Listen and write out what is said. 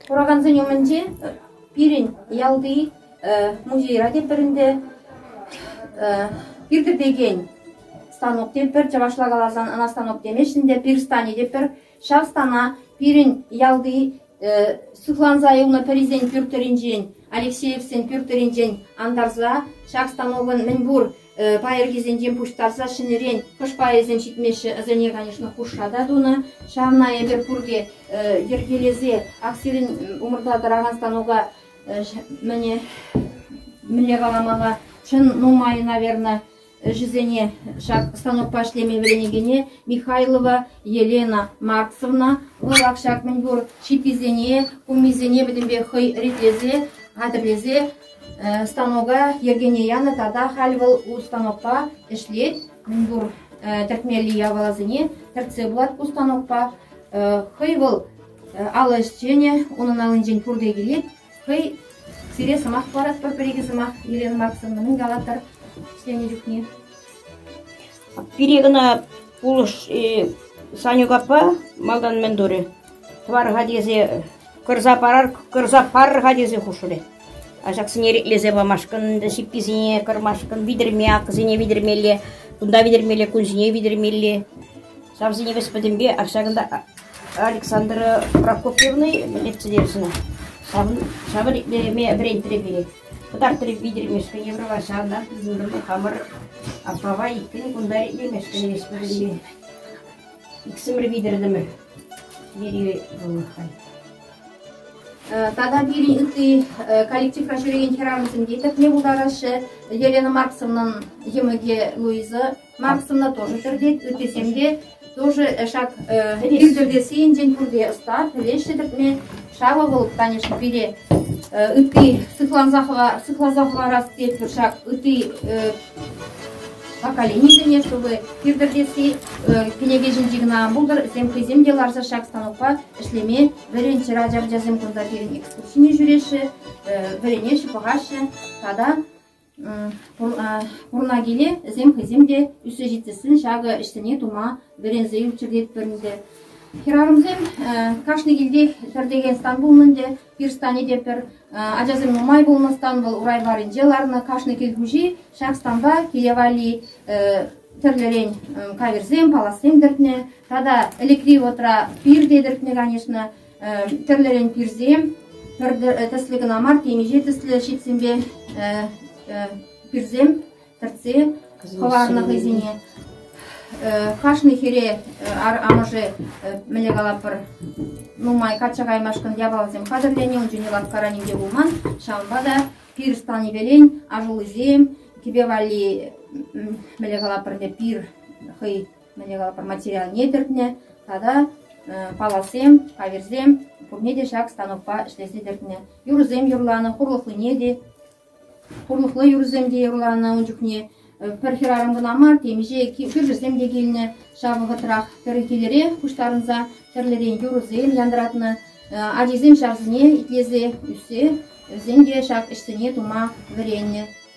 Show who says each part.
Speaker 1: Куракансен умӗнче пирӗн ялти музейра те пӗр ӗнтӗ пиртӗтекен станок те пӗр, чӑвашла каласан ӑна станок темеҫҫӗ те пир стани те пӗр. Ҫав стана пирӗн ялти сыхланса юлнӑ пӗрисен пӳрт тӑрринчен, Алексеевсен пӳрт тӑрринчен антарса ҫак станокӑн мӗн пур Пайӑркисенчен пуҫтарса ҫӗнӗрен хӑш пайӗсем ҫитмеҫҫӗ, вӗсене, конечно, хушша та тунӑ. Ҫавна эпир пурте йӗркелесе аксирӗн умӑрта тӑракан станука мӗнле каламалла, чӑн нумай, наверное, ӗҫӗсене ҫак станокпа ӗҫлеме вӗренекене Михайлова Елена Марксовна вӑлах ҫак мӗнпур чиписене, кумисене пӗтӗмпех хӑй ритлесе, хатӗрлесе станока йӗркене янӑ тата халь вӑл ку станокпа ӗҫлет. Мӗнпур тӗртмелли япаласене тӗртсе пулать ку станокпа. Хӑй вӑл алӑ ӗҫченӗ, унӑн аллинчен пурте килет. Хӑй сире сӑмах парать пӗр-пӗр икӗ сӑмах. Елена Марксовна мӗн калатӑр ӗҫленӗ чухне? Пире
Speaker 2: кӑна пулӑшӗ Санюкапа малтан мӗн турӗ? Тӑвар-ха тесе кӑрса парар, кӑрса парӑр-ха тесе хушрӗ. Ачаксене иреклесе памашкӑн, ҫипписене кӑрмашкӑн витӗрме, акӑсене витӗрмелле, кунта витӗрмелле, кун ҫине витӗрмелле. Ҫавсене вӗҫ пӗтӗмпе ҫакӑнта Александра Прокопьевна ертсе терӗ сана. Ҫавӑн итлеме вӗрентрӗ пире. Кӑтартрӗ витӗрмешкӗн Евроваҫан, Нурлы хамӑр аппапа иккӗн кунта итлемешкӗн леҫ вырӑнне. Иксӗмӗр витӗртӗмӗр. Вери вӑл хай.
Speaker 1: Тата пирӗн ытти коллективра ҫӳрекен хӗрарӑмсем те тӗпне пултараҫҫӗ. Елена Марксовнӑн йӑмӑкӗ Луиза Мам сумна тоже тӗртет, ыттисем те тоже ҫак илтӗртессийӗнчен пурте ӑста, пӗлеҫҫӗ тӗртме. Ҫавӑ вӑл, конечно, пире ытти сыхланса, хӑва, сыхласа хӑварас тетпӗр ҫак ытти поколенисене, чтобы иртӗртесси кӗнеке ҫинчи кӑна ан пултӑр, тем хӑйсем те ларса ҫак станокпа ӗҫлеме вӗренччӗр ача ачасем кунта пирӗн экскурсине ҫӳреҫҫӗ, вӗренеҫҫӗ, пӑхаҫҫӗ тата Пурӑна киле вӗсем хӑйсем те ӳссе ҫитсен ҫакӑ ӗҫсене тума вӗренсе ӳкчӗр тетпӗр ӗнтӗ. Хӗрарӑмсем кашни килтех тӗртекен стан пулнӑ ӗнтӗ, пир станӗ те пӗр. Ачасем нумай пулнӑ стан вӑл урай варринче ларнӑ. Кашни кил хуҫи ҫак станпа киле валли тӗрлӗрен каверсем, паласем тӗртнӗ. Тата ӗлӗкри вӑтра пир те тӗртнӗ, конечно. тӗрлӗрен пирсем пӗр тӗслӗ кӑна мар, темиҫе тӗслӗ ҫитсемпе пирсем тӗртсе хӑварнӑ хӑйсене. Кашни хире амӑшӗ мӗне калапӑр нумай качча каймашкӑн япаласем хатӗрленӗ, ун чухне лавккаранин те пулман, ҫавӑнпа та пир станипелен ашуллисем, кӗпе валли мӗне калапӑр те пир хӑй материалне тӗртнӗ тата паласем, кавирсем пурне те ҫак станокпа ӗҫлесе тӗртнӗ. Юрӑсем юрланӑ, хурлӑхлине те, хурлӑхлӑ юрӑсем те юрланӑ ун чухне. Пӗр хӗрарӑм кӑна мар, темиҫе кӳршӗсем те килнӗ ҫав вӑхӑтрах. Пӗр килӗрех пуҫтарӑнса тӗрлӗрен юрӑсем янратнӑ. Ачисем ҫавсене итлесе ӳссе вӗсен те ҫак ӗҫсене тума вӗреннӗ.